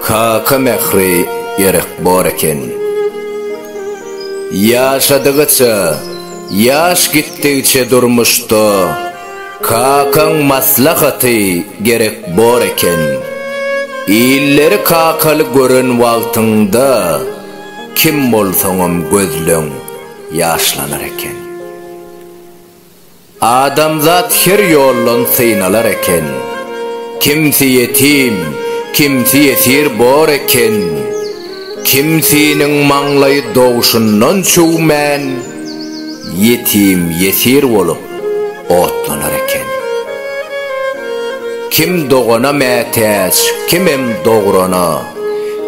Kaka mähri gerek bor eken. Ýaşadygyça, ýaş gitdigiçe durmuşda kakaň maslahaty gerek bor eken. Illeri kakaly gören wagtyňda kim bolsaňam gözleň ýaşlanar eken. Adamzat her ýoldan synalar eken. Kimsi ýetim, kimsi ýesir bor eken. Kimsiniň maňlaýy dogşundan çüwmän, ýetim, ýesir bolup otlanar eken. Kim dogana mätäç, kimem dograna.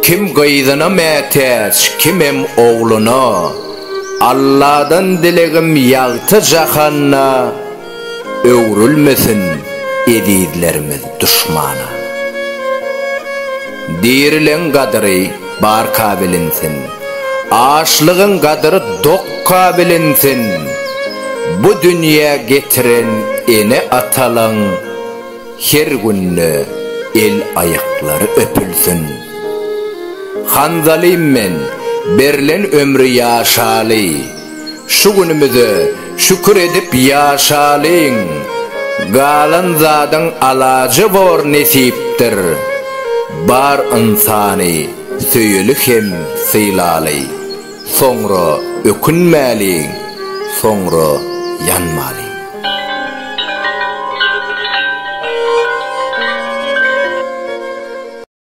Kim gyzyna mätäç, kimem ogluna. Alladan dilegim ýagty jahanda öwrülmesin ezizlerimiz duşmana. Dirileň gadyry barka bilinsin, açlygyň gadyry dokka bilinsin. Bu dünýä getiren ene-atalaň. Her günde el aýaklary öpülsin. Hanzalym men, berlen ömri ýaşaly, şu günümize şükür edip ýaşalyň, galan zadyň alaja bor nesipdir, bar ynsany söýeli hem sylaly. Soňra ökünmäliň, soňra ýanmalyň.